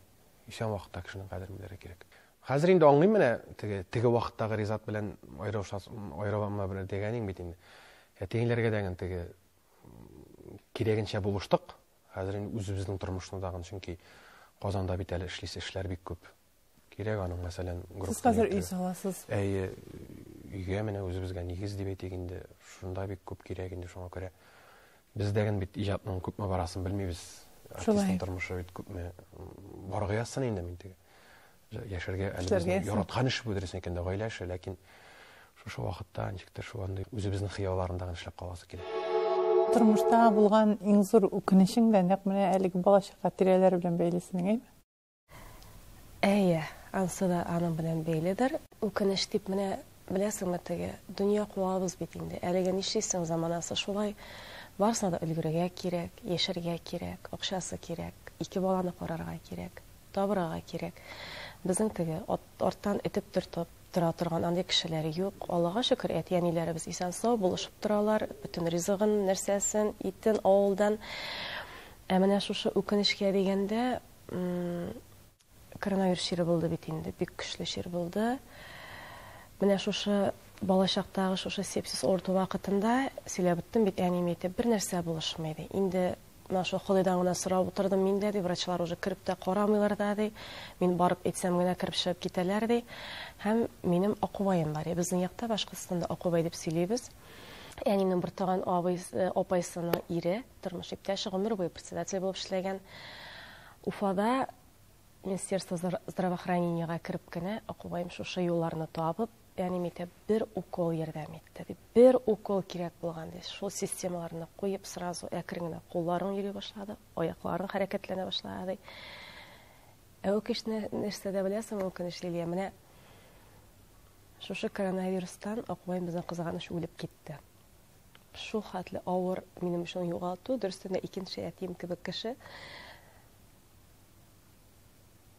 исән вакытта кешенең кадерен белергә кирәк. Хәзер инде аңлыйм менә теге теге вакыттагы Ризат белән айрылышас айрыламна белән дигәнең бит инде. Әтиеңләргә дә теге кирәгенчә булыштык. Хәзер инде үзебезнең тормышны тагын, чөнки Казанда бит әле эшлисе эшләр бик күп. Кирәк аның, мәсәлән, группа. Сез хәзер өй саласыз. Әйе, өйгә менә үзебезгә нигез дип әйтик инде, шунда бик күп кирәк инде шуңа күрә. Бездәген бит иҗатның күпме барасын белмибез. Артистның тормышы бит күпме баргы язсын инде мин теге. Яшәргә әле Эшләргә безнең ясый. яраткан эш бу дөресен әйткәндә гаилә эше, ләкин шушы вакытта ничектер шул андый үзебезнең хыялларында гына эшләп каласы килә. Тормышта булган иң зур үкенечең дә нәкъ менә әлеге бала-чага тирәләре белән бәйле синең, әйеме? Әйе, ансы да аның белән бәйледер. Үкенеч дип менә, беләсеңме, теге дөнья куабыз бит инде. Әлегә нишлисең, заманасы шулай. Барысына да өлгерергә кирәк, яшәргә кирәк, акчасы кирәк, ике баланы карарга кирәк. Табырага кирәк. Безнең теге, арттан этеп төртеп тора торган андый кешеләр юк. Аллага шөкер, әти-әниләребез исән-сау, булышып торалар, бөтен ризыгын, нәрсәсен, итен авылдан. Ә менә шушы үкенечкә дигәндә, коронавирус чире булды бит инде, бик көчле чир булды. Менә шушы балачактагы шушы сепсис авырту вакытында, сөйләп үттем бит, әнием әйтеп, бернәрсә булышмый, ди. Инде Менә шул Ходайдан гына сорап утырдым мин дә, ди, врачлар уже кереп тә карамыйлар да, ди. Мин барып әйтсәм генә кереп чыгып китәләр, ди. Һәм минем Акубаем бар, я безнең якта Башкортстанда Акубай дип сөйлибез. Әниемнең бертуган абый, э, апайсының ире, тормыш иптәше, гомер буе председатель булып эшләгән. Уфада Министерство здравоохранениега кереп кенә Акубаем шушы юлларны табып, Реанимитә бер укол ярдәм итте, ди. Бер укол кирәк булган, ди. Шул системаларны куеп, сразу әкрен генә кулларың йөри башлады, аякларың хәрәкәтләнә башлады. Ә үкеш нәрсә дә беләсең, үкенеч Лилия, менә шушы коронавирустан Акбай безнең кызганыч үлеп китте. Шул хәтле авыр минем өчен югалту, дөрестән дә икенче әтием кебек кеше.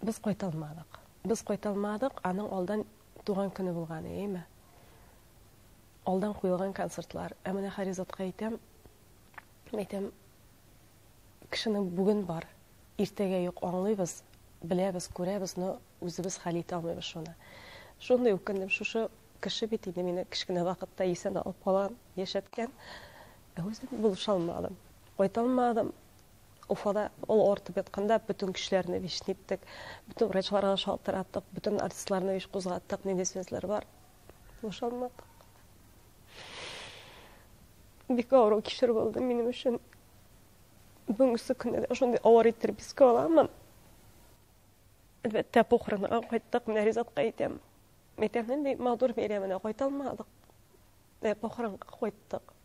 Без кайта алмадык. Без кайта алмадык, аның алдан туган көне булган, әйеме? Алдан куелган концертлар. Ә менә Харизатка әйтәм, әйтәм, кешенең бүген бар, иртәгә юк, аңлыйбыз, беләбез, күрәбез, но үзебез хәл итә алмыйбыз шуны. Шундый үкендем, шушы кеше бит инде мине кечкенә вакытта исән алып калган, яшәткән. Ә үзем булыша алмадым. Кайта алмадым. Уфада ул авыртып ятканда бөтен кешеләрне вич ниттек, бөтен врачларга шалтыратык, бөтен артистларны вич кузгаттык, нинди сүзләр бар. Бушанмадык. Бик авыру кишер булды минем өчен. Бүгенге көндә дә шундый авыр иттереп искә аламын. Әлбәттә, похоронга кайттык, менә Ризатка әйтәм. Әйтәм, нинди матур бәйрәменә кайта алмадык. Ә похоронга кайттык.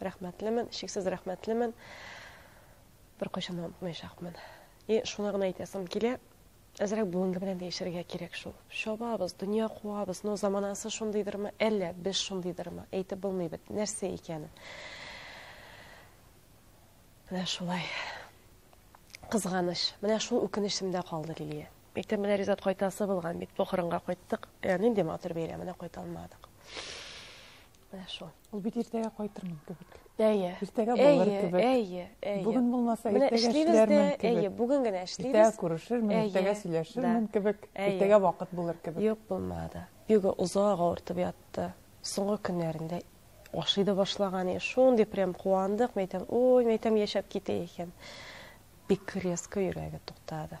Рәхмәтлемен, чиксез рәхмәтлемен. Беркайчан да онытмаячакмын. И шуны гына әйтәсем килә, әзрәк бүгенге белән яшәргә кирәк шул. Чабабыз, дөнья куабыз, но заманасы шундыйдырмы, әллә без шундыйдырмы, әйтеп булмый бит, нәрсә икәнен. Менә шулай. Кызганыч. Менә шул үкенечемдә калды Лилия. Мәктәп менә Ризат кайтасы булган бит. Похоронга кайттык. Ә нинди матур бәйрәменә кайта алмадык. Менә шул. Ул бит иртәгә кайтырмын кебек. Әйе. Иртәгә булыр кебек. Әйе, әйе. Бүген булмаса, иртәгә эшләрмен кебек. Әйе, бүген генә эшлибез. Иртәгә күрешермен, иртәгә сөйләшермен кебек. Иртәгә вакыт булыр кебек. Юк, булмады. Бигү озак авыртып ятты. Соңгы көннәрендә ашый да башлаган. Шундый прям куандык, мәйтәм, ой, мәйтәм, яшәп китә икән. Бик резко йөрәге туктады.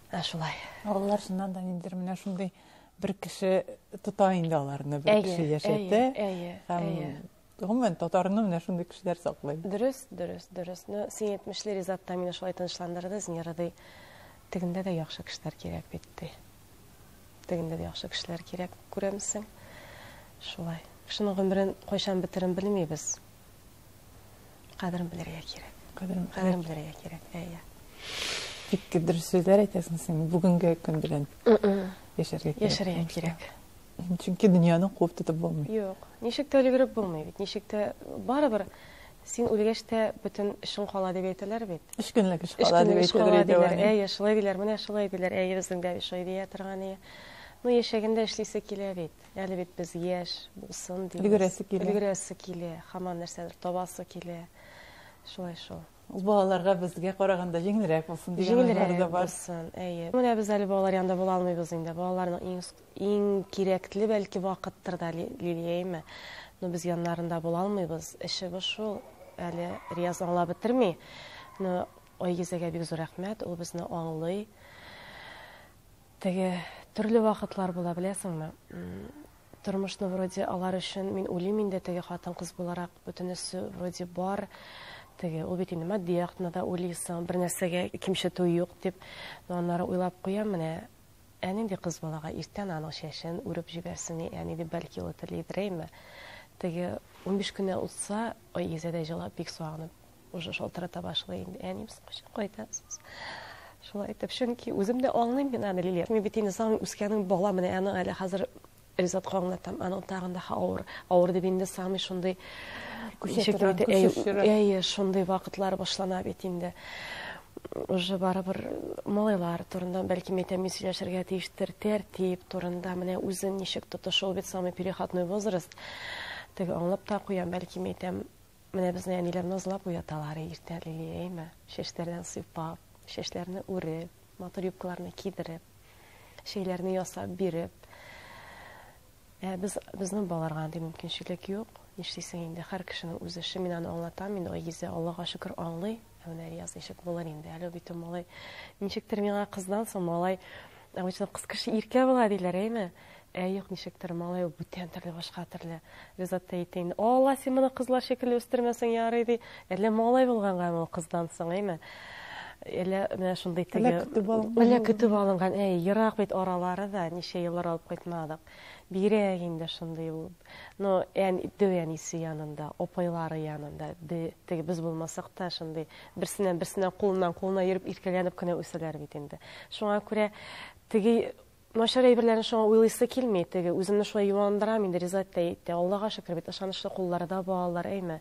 Ә шулай. Алар шуннан да ниндидер менә шундый бер кеше тота инде аларны, бер кеше яшәтә. Һәм гомумән татарны менә шундый кешеләр саклый. Дөрес, дөрес, дөрес. Ну, син әйтмешле Ризат та мине шулай тынычландырды, Зинера ди. Тегендә дә яхшы кешеләр кирәк бит ди. Тегендә дә яхшы кешеләр кирәк, күрәмсең. Шулай. Кешенең гомерен кайчан бетерен белмибез. Кадерен белергә кирәк. Кадерен Кадерен белергә кирәк. Әйе. Бик дөрес сүзләр әйтәсең син. Бүгенге көн белән яшәргә кирәк. Яшәргә кирәк. Чөнки дөньяны куып тотып булмый. Юк. Ничек тә өлгереп булмый бит. Ничек тә барыбер син үлгәч тә бөтен эшең кала дип әйтәләр бит. Өч көнлек эш кала дип әйтәләр. Әйе, шулай диләр. Менә шулай диләр. Әйе, безнең дә шулай дия торган ие. Ну, яшәгәндә эшлисе килә бит. Әле бит без яшь булсын дибез. Өлгерәсе килә. Өлгерәсе килә. Хаман нәрсәдер табасы килә. Шулай шул. Ул балаларга безгә караганда җиңелрәк булсын дигән уйлар да бар. Булсын, әйе. Менә без әле балалар янында була алмыйбыз инде. Балаларның иң иң кирәкле бәлки вакыттыр да Лилиәйме. Но без яннарында була алмыйбыз. Эшебез шул. Әле Рияз аңлап бетерми. Но Айгизәгә бик зур рәхмәт. Ул безне аңлый. Теге төрле вакытлар була, беләсеңме? Тормышны вроде алар өчен мин үлим инде теге хатын-кыз буларак, бөтенесе вроде бар. Теге ул бит инде матди яктан да уйлыйсың, бер нәрсәгә кимчетү юк дип, но аннары уйлап куям, менә ә нинди кыз балага иртән аның чәчен үреп җибәрсен, ә нинди бәлки ул телидер, әйме? Теге 15 кенә утса, ой, изәдәй җылап, бик сагынып Уже шалтырата башлый инде. Әнием, соң кайчан кайтасыз? Шулай итеп, чөнки үзем дә аңлыйм мин аны Лилия. Мин бит инде саң үскәнең бала менә аны әле хәзер Ризат аңлатам. Аның тагын да авыр, авыр дип инде самый шундый күчәтү. Әйе, шундый вакытлар башлана бит инде. Уже барыбер малайлар турында бәлки мәйтәм мин сөйләшергә тиештер тәртип турында менә үзен ничек тотышу бит самый переходной возраст. Теге аңлап та куям, бәлки мәйтәм Менә безне әниләр назлап уяталар иртә, Лилия, әйме? Чәчләрдән сыйпап, чәчләрне үреп, матур юбкаларны кидереп, чәйләрне ясап биреп. Ә без безнең балаларга андый мөмкинчелек юк. Нишлисең инде, һәр кешенең үз эше. Мин аны аңлатам, мин Айгизә, Аллага шөкер, аңлый. Ә менә Рияз ничек булыр инде, әле бит ул малай. Ничектер миңа кыздан соң малай, обычно кыз кеше иркә була диләр, әйме? Ә юк, ничектер, малай ул бүтән төрле, башка төрле. Ризат та әйтә инде, Алла, син моны кызлар шикелле үстермәсең, ярый, ди. Әллә малай булганга ул кыздан соң, әйме? Әллә менә шундый теге... Әллә көтеп алынган. Әллә Әй, ерак бит аралары да, ничә еллар алып кайтмадык. Бигрәк инде шундый ул. Но ән, дөү әнисе янында, опайлары янында, ди, теге без булмасак та шундый берсенә-берсенә кулыннан кулына йөреп иркәләнеп кенә үсәләр бит инде. Шуңа күрә теге Начар әйберләрне шуңа уйлыйсы килми, теге, үземне шулай юандырам инде, Ризат та әйтте, Аллага шөкер бит, ышанычлы куллары да балалар, әйме,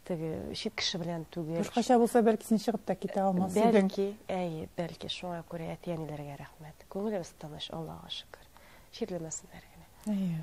теге, чит кеше белән түгел. Башкача булса, бәлки син чыгып та китә алмас идең. Бәлки, әйе, бәлки, шуңа күрә әти-әниләргә рәхмәт. Күңелебез тыныч, Аллага шөкер. Чирләмәсеннәр генә. Әйе.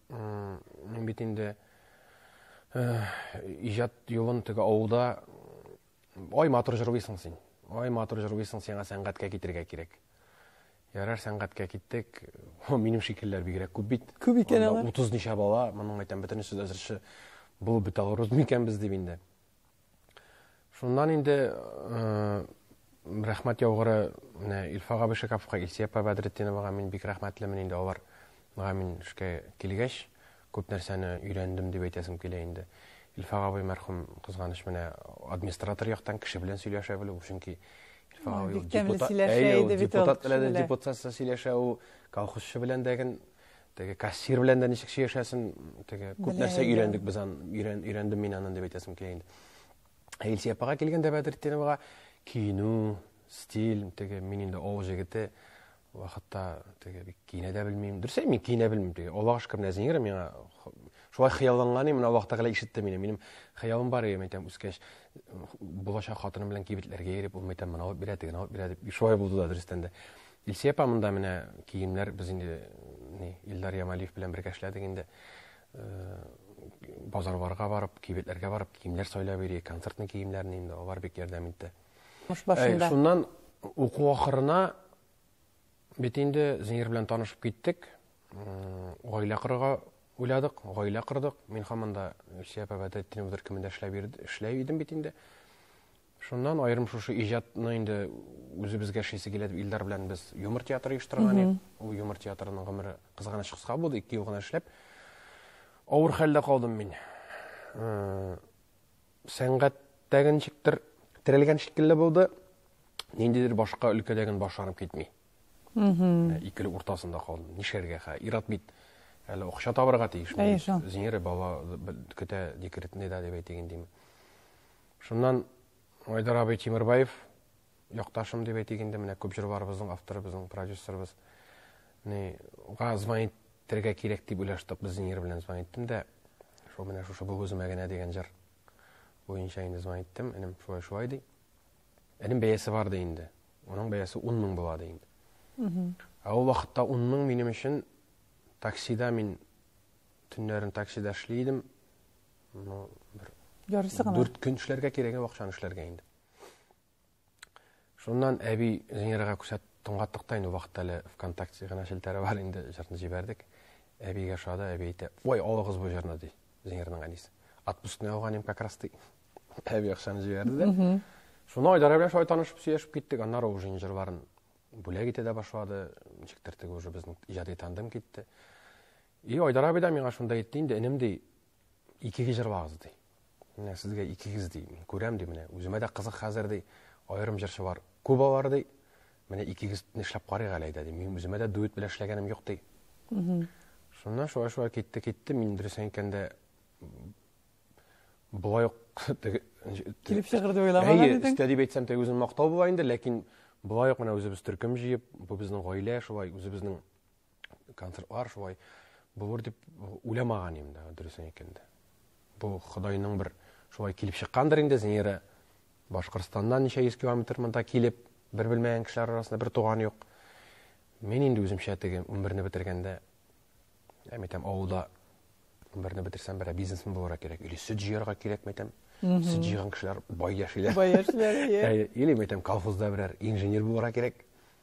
Мин бит инде иҗат юлын теге авылда ай матур җырлыйсың син. Ай матур җырлыйсың, сиңа сәнгатькә китергә кирәк. Ярар сәнгатькә киттек. О, минем шикелләр бигрәк күп бит. Күп икән алар. 30 ничә бала, моның әйтәм, бөтенесе дә җырчы булып бетә алырбыз микән без дип инде. Шуннан инде рәхмәт яугыры менә Илфак абый Шәкәповка, Илсия апа Бәдретдиновага мин бик рәхмәтлемен инде алар. Мага мин эшкә килгәч, күп нәрсәне өйрәндем дип әйтәсем килә инде. Илфак абый мәрхүм кызганыч менә администратор яктан кеше белән сөйләшә белү, чөнки Илфак абый депутат, депутат белән депутатсыз сөйләшә, ул колхозчы белән дәген теге кассир белән дә ничек сөйләшәсен теге күп нәрсә өйрәндек без ан өйрән өйрәндем мин аны дип әйтәсем килә инде ә илсөя апага килгәндә бәдретдиновага киенү стиль теге мин инде авыл җегете вакытта теге бик киенә дә белмим дөрес мин киенә белмим теге аллага шөкер нәзинер миңа шулай хыялланган мин аллаһ тәгалә ишетте мине минем хыялым бар иде әйтәм үскәч булачак хатыным белән кибетләргә йөреп ул әйтәм мына алып бирә тегене алып бирә дип шулай булды да дөрестән дә Илсөя апа монда менә киемнәр без инде ни Илдар Ямалиев белән бергә эшләдек инде. Э, базарларга барып, кибетләргә барып киемнәр сайлап йөри, концертный киемнәрне инде алар бик ярдәм итте. Мыш башында. Э, шуннан уку ахырына бит инде Зинер белән танышып киттек. Э, гаилә корырга уйладык, гаилә кордык. Мин һаман да Илсөя апа бәдәттин үзер кемендә эшләп йөрде, эшләп идем бит инде. Шуннан аерым шушы иҗатны инде үзебезгә эшлисе килә дип Илдар белән без юмор театры оештырган идек. Ул юмор театрының гомере кызганыч кыска булды, ике ел гына эшләп. Авыр хәлдә калдым мин. Э, сәнгатьтәге ничектер терелгән шикелле булды. Ниндидер башка өлкәдәген башланып китми. Э, икеле уртасында калдым. Нишәргә хә? Ират бит әле акча табырга тиеш. Зинере бала көтә декретный да дип әйтегендиме. Шуннан Айдар абый Тимербаев, якташым дип әйтик инде, менә күп җырларыбызның авторы, безнең продюсерыбыз. Ни, уга звонить итәргә кирәк дип уйлаштык, без Зинер белән звонить иттем дә, шул менә шушы бу үземә генә дигән җыр буенча инде звонить иттем, энем шулай шулай ди. Энем бәясе бар ди инде. Оның бәясе 10 мең була ди инде. Ә ул вакытта 10 мең минем өчен таксида мин төннәрен таксида эшли идем. Ну, бер... Ярысы гына. Дүрт көн эшләргә кирәк, акчаны эшләргә инде. Шуннан әби Зинерага күсәт тыңлаттык та инде вакытта әле ВКонтакте гына челтәре бар инде, җырны җибәрдек. Әбигә шада, әби әйтә, "Ой, алыгыз бу җырны", ди. Зинерның әнисе. Отпускны алган им как раз ди. Әби акчаны җибәрде дә. Шуны Айдара белән шулай танышып, сөйләшеп киттек. Аннары уже җырларын бүләк итә дә башлады. Ничектер теге уже безнең иҗади тандем китте. И Айдар абый да миңа шунда әйтте инде, энем ди, икегез җырлагыз ди. Менә сезгә икегез ди, мин күрәм ди менә. Үземә дә кызык хәзер ди, аерым җырчы бар, Куба бар ди. Менә икегез нишләп карыйк әле әйдә ди. Мин үземә дә дуэт белән эшләгәнем юк ди. Шуннан шулай шулай китте, китте. Мин дөрес әйткәндә болай ук килеп чыгыр дип уйламаган идең. Әйе, истә дип әйтсәм, тәгә үзен мактау була инде, ләкин болай ук менә үзебез төркем җыеп, бу безнең гаилә шулай үзебезнең концертлар шулай булыр дип уйламаган идем да дөресен әйткәндә бу ходайның бер шулай килеп чыккандыр инде зинира башкортстаннан ничә йөз километр монда килеп бер белмәгән кешеләр арасында бер туган юк мин инде үземчә теге унберне бетергәндә әм әйтәм авылда унберне бетерсәм берәр бизнесмен булырга кирәк или сөт җыярга кирәкме әйтәм сөт җыйган кешеләр бай яшиләр бай яшиләр или әйтәм колхозда берәр инженер булырга кирәк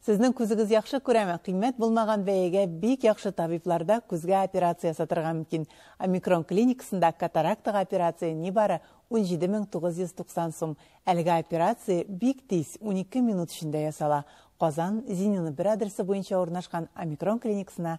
Сезнең күзегез яхшы күрәме? Кыйммәт булмаган бәягә бик яхшы табибларда күзгә операция ясатырга мөмкин. Омикрон клиникасында катарактага операция нибары 17990 сум. Әлеге операция бик тиз, унике минут эчендә ясала. Казан, Зинина бер адресы буенча урнашкан Омикрон клиникасына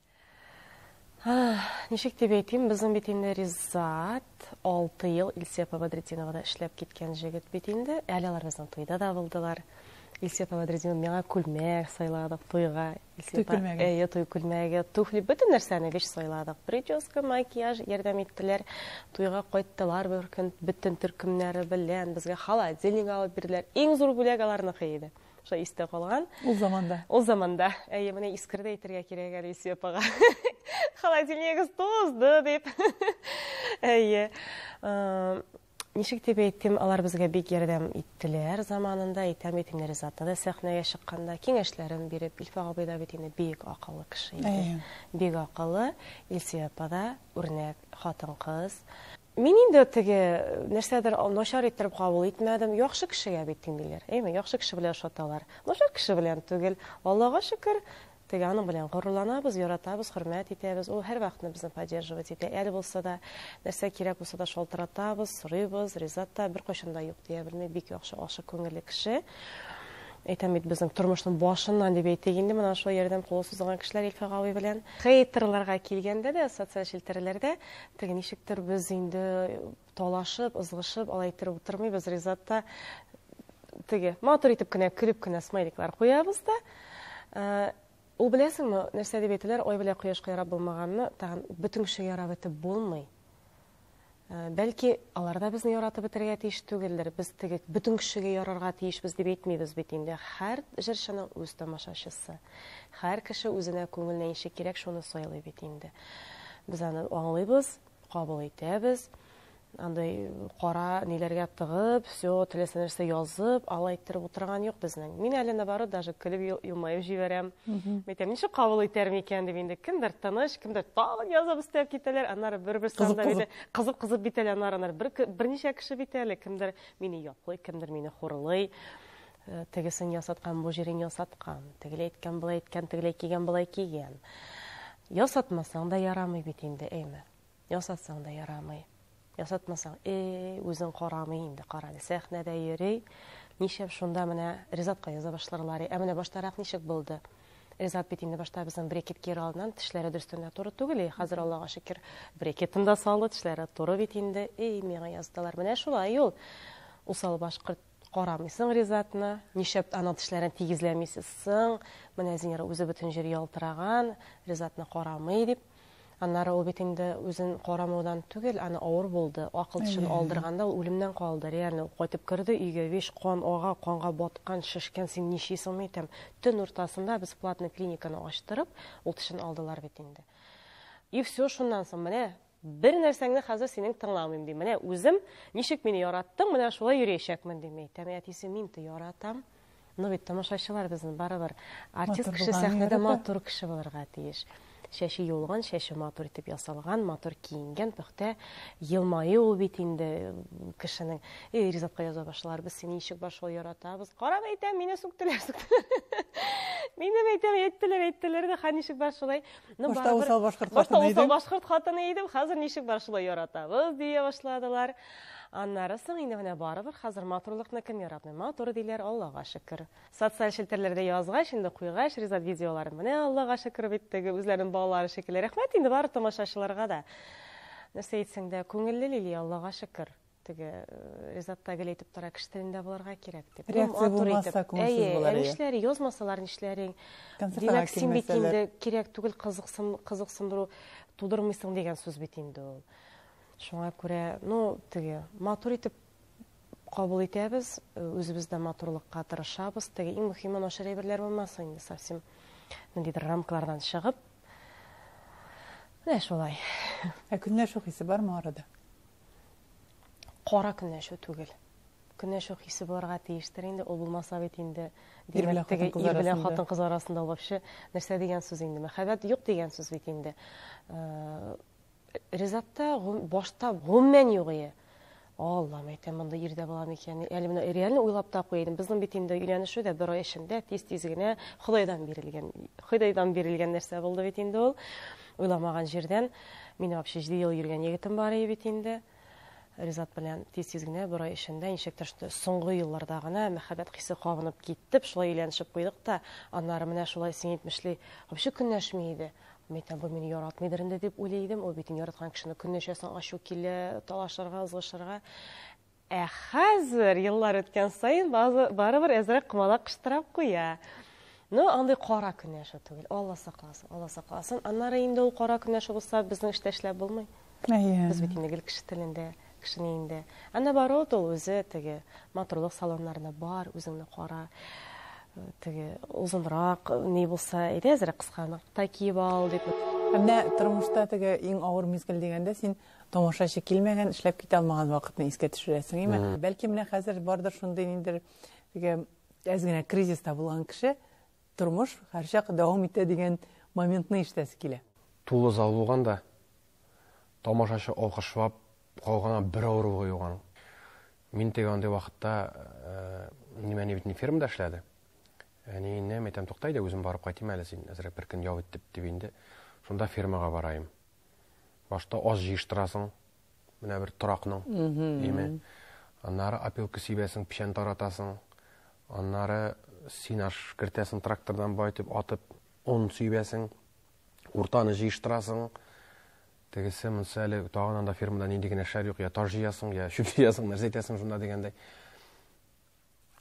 Ничек дип әйтим, безнең бит инде Ризат 6 ел Илсепа Бадретдиновада эшләп киткән җегет бит инде. Әле алар безнең туйда да булдылар. Илсепа Бадретдинова миңа күлмәк сайладык туйга. Илсепа, туй күлмәге. Әйе, туй күлмәге, туфли, бөтен нәрсәне вещь сайладык. Прическа, макияж ярдәм иттеләр. Туйга кайттылар бер көн бөтен төркемнәре белән. Безгә холодильник алып бирделәр. Иң зур бүләк аларныкы иде. шулай истә калган ул заманда ул заманда әйе менә искер дә әйтергә кирәк әле исви апага холодильнигыз тозды дип әйе ничек дип әйтим алар безгә бик ярдәм иттеләр заманында әйтәм бит инде ризатны да сәхнәгә чыкканда киңәшләрен биреп илфа абый да бит инде бик акыллы кеше иде бик акыллы илсөя апа да үрнәк хатын кыз Мин инде теге нәрсәдер начар иттереп кабул итмәдем. Яхшы кешегә бит тиңлиләр, әйме? Яхшы кеше белән ошаталар. Начар кеше белән түгел. Аллага шөкер, теге аның белән горурланабыз, яратабыз, хөрмәт итәбез. Ул һәрвакытны безне поддерживать итә. Әле булса да, нәрсә кирәк булса да шалтыратабыз, сорыйбыз. Ризат та беркайчан да юк дия белми, бик яхшы, ачык күңелле кеше. Әйтәм бит, безнең тормышның башыннан дип әйтик инде, менә шул ярдәм кулы сузылган кешеләр Илфак абый белән. Хейтерларга килгәндә дә, социаль челтәрләрдә Теге ничектер без инде талашып, ызгышып, алай иттереп утырмыйбыз. Ризат та теге матур итеп кенә көлеп кенә смайликлар куябыз да. Э, ул беләсеңме, нәрсә дип әйтәләр, ай белә кояшка ярап булмаганны тагын бөтен кеше ярап итеп булмый. Э, бәлки алар да безне яратып бетерергә тиеш түгелдер. Без теге бөтен кешегә ярарга тиешбез дип әйтмибез бит инде. Һәр җырчының үз тамашачысы. Һәр кеше үзенә күңеленә ничек кирәк, шуны сайлый бит инде. Без аны аңлыйбыз, кабул итәбез. Андый кара ниләргә тыгып, все теләсә нәрсә язып, алай иттереп утырган юк безнең. Мин әле наоборот даже көлеп елмаеп җибәрәм. Әйтәм, ничек кабул итәр микән дип инде. Кемдер тыныч, кемдер тагын язып өстәп китәләр. Аннары бер-бер санда бит кызып-кызып бит әле аннары бер берничә кеше бит әле. Кемдер мине яклый, кемдер мине хурлый. Тегесен ясаткан, бу җирен ясаткан. Тегеләй әйткән, болай әйткән, тегеләй кигән, болай кигән. Ясатмасаң да ярамый бит инде, әйме. Ясатсаң да ярамый. Ясатмасаң, э, үзең карамый инде, кара әле, сәхнәдә йөри. Ничәм шунда менә Ризатка яза башларлар. Ә менә баштарак ничек булды? Ризат бит инде башта безнең брекет киер алдыннан тешләре дөрестән дә туры түгел. И, хәзер Аллага шөкер, брекетын да салды, тешләре туры бит инде. И, миңа яздылар. Менә шулай ул. Усал башкорт Карамыйсың Ризатны, нишләп аның тешләрен тигезләмисез соң? Менә Зинер үзе бөтен җир ялтыраган, Ризатны карамый дип. Аннары ул бит инде үзен карамаудан түгел, аны авыр булды. Акыл тешен алдырганда ул үлемнән калды, реально. Ул кайтып керде өйгә, весь кан ага, канга баткан, шешкән, син ничисыңмы итәм. Төн уртасында без платный клиниканы ачтырып, ул тешен алдылар бит инде. И все шуннан соң, менә Бер нәрсәңне хәзер синең тыңламыйм, ди. Менә үзем, ничек мине яраттың, менә шулай йөриячәкмен, дим әйтәм. Әтисе, мин ты яратам. Ну бит тамашачылар безнең барыбер артист кеше сәхнәдә матур кеше булырга тиеш. Чәче юлган, чәче матур итеп ясалган, матур киенгән, пөхтә елмаю ул бит инде кешенең. И Ризатка яза башлар, без сине ничек бар шулай яратабыз. Карап әйтәм, мине сүктеләр, сүктеләр. Мине әйтәм, әйттеләр, әйттеләр дә, ха ничек бар шулай. Ну, Башта барыбер- усал башкорт Башта хатыны усал идем. башкорт хатыны идем, хәзер ничек бар шулай яратабыз, дия башладылар. Аннары соң инде менә барыбер хәзер матурлыкны кем яратмый? Матур диләр, Аллага шөкер. Социаль челтәрләрдә язгач, инде куйгач, Ризат видеоларын менә Аллага шөкер бит теге үзләренең балалары шикелле. Рәхмәт инде бары тамашачыларга да. Нәрсә әйтсәң дә, күңелле Лилия, Аллага шөкер. Теге Ризатта гел әйтеп тора, кеше телендә булырга кирәк дип. Реакция булмаса күңелсез булыр. Әйе, нишләр, язмасалар нишләрең? Димәк, син бит инде кирәк түгел кызыксын, кызыксындыру тудырмыйсың дигән сүз бит инде ул. Шуңа күрә, ну, теге матур итеп кабул итәбез, үзебез дә матурлыкка тырышабыз. Теге иң мөһиме начар әйберләр булмасын инде совсем. Ниндидер рамкалардан чыгып. Менә шулай. Ә көнләшү хисе бармы арада? кара көнләшү түгел. Көнләшү хисе булырга тиештер инде, ул булмаса бит инде димәк теге ир белән хатын кыз арасында вообще нәрсә дигән сүз инде? Мәхәббәт юк дигән сүз бит инде. Э, Ризатта башта гомумән юк ие. Аллам, әйтәм, монда ирдә була микән? Әле менә реально уйлап та куйдым. Безнең бит инде өйләнешү дә бер ай эчендә тиз-тиз генә Худайдан бирелгән, Худайдан бирелгән нәрсә булды бит инде ул. Уйламаган җирдән мин вообще җиде ел йөргән егетем бар иде бит инде. Ризат белән тиз-тиз генә бер ай эчендә ничектер соңгы елларда гына мәхәббәт хисе кабынып киттеп, шулай өйләнешеп куйдык та, аннары менә шулай син әйтмешли, вообще көнләшми иде. Мәйтәм, бу мине яратмыйдыр инде дип уйлый идем. Ул бит яраткан кешене көнләшәсең, ачу килә, талашырга, ызгышырга. Ә хәзер, еллар үткән саен, барыбер әзрәк комалак кыштырап куя. Ну, андый кара көн яшәү түгел. Алла сакласын, Алла сакласын. Аннары инде ул кара көн яшәү булса, безнең эштә эшләп булмый. Әйе. Без бит инде гел кеше телендә, кешене инде. Ә наоборот, ул үзе теге матурлык салоннарына бар, үзеңне кара. Теге озынрак ни булса, әйдә әзрәк кысканык та киеп ал дип. Менә тормышта теге иң авыр мизгел дигәндә син Тамашачы килмәгән, эшләп китә алмаган вакытны искә төшерәсең, име? Бәлки менә хәзер бардыр шундый ниндер теге әз генә кризиста булган кеше, тормыш һәрчак дәвам итә дигән моментны ишетәсе килә. Тулы зал булган да, тамашачы алкышлап калган бер авыруы юк аның. Мин теге андый вакытта, минем әни бит инде фермада эшләде. Әниенә әйтәм, тукта әйдә, үзем барып кайтыйм әле, син әзрәк бер көн ял ит дип, дип инде шунда фермага бараем. Башта аз җыештырасың, менә бер торакның име. Аннары опилка сибәсең, печән таратасың. Аннары синаж кертәсең трактордан байтып, атып, он сибәсең. Уртаны җыештырасың. Тегесе монсы әле тагын анда фермада нинди генә эшләр юк, я таш җыясың, я чүп җыясың, нәрсә итәсең шунда дигәндәй.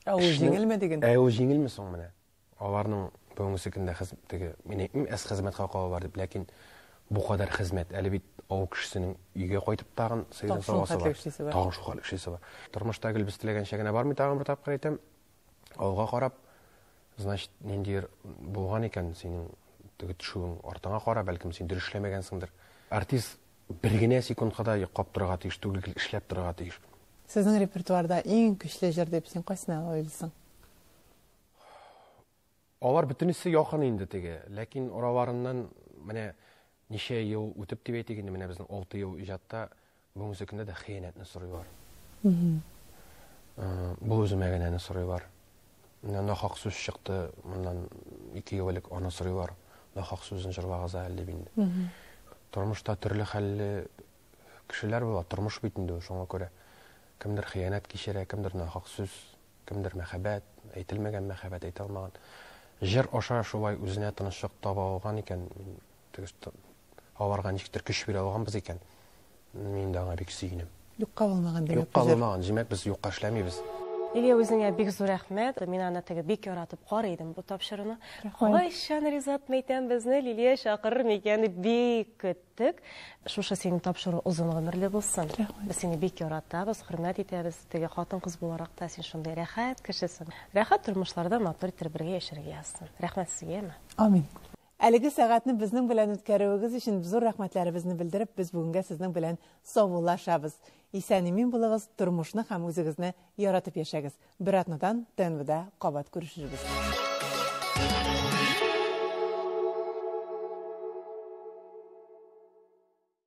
Ә ул җиңелме диген? Ә ул җиңелме соң менә? Аларның бүгенге көндә хез теге, мин әйтмим, әз хезмәткә калалар дип, ләкин бу кадәр хезмәт, әле бит авыл кешесенең өйгә кайтып тагын сыйдан савасы бар. Тагын шул хәтле эшлисе бар. Тормышта гел без теләгәнчә генә бармый, тагын бер тапкыр әйтәм. Алга карап, значит, ниндидер булган икән синең теге төшүең артыңа кара, бәлкем син дөрес эшләмәгәнсеңдер. Артист бер генә секундка да йоклап торырга тиеш түгел, гел эшләп торырга тиеш. Сезнең репертуарда иң көчле җыр дип син кайсына уйлыйсың? Алар бөтенесе якын инде теге, ләкин араларыннан менә ничә ел үтеп дип әйтик инде, менә безнең 6 ел иҗатта бүгенге сөкендә дә хыянәтне сорыйлар. Бу үземә генә аны сорыйлар. Менә нахак сүз чыкты, моннан 2 ел элек аны сорыйлар. Нахак сүзен җырлагыз әле дип инде. Тормышта төрле хәлле кешеләр була, тормыш бит инде шуңа күрә. Кемдер хыянәт кичерә, кемдер нахак сүз Кемдер мәхәббәт, әйтелмәгән мәхәббәт әйтә алмаган. Җыр аша шулай үзенә тынычлык таба алган икән. Мин төгес аларга ничектер көч бирә алганбыз икән. Мин дә аңа бик сөенәм. Юкка булмаган димәк. Юкка булмаган, димәк без юкка эшләмибез. Лилия үзеңә бик зур рәхмәт. Мин аны теге бик яратып карый идем бу тапшыруны. Кайчан Ризат Мәйтәм безне Лилия чакырыр микән дип бик көт. Тек шушы синең тапшыру озын гомерле булсын. Без сине бик яратабыз, хөрмәт итәбез. Теге хатын-кыз буларак та син шундый рәхәт кешесең. Рәхәт тормышларда матур итеп бергә яшәргә язсын. Рәхмәт сезгә, Эмма. Амин. Әлеге сәгатьне безнең белән үткәрүегез өчен зур рәхмәтләребезне белдереп, без бүгенгә сезнең белән саубуллашабыз. Исән-имин булыгыз, тормышны һәм үзегезне яратып яшәгез. Бер атнадан ТНВда кабат күрешербез.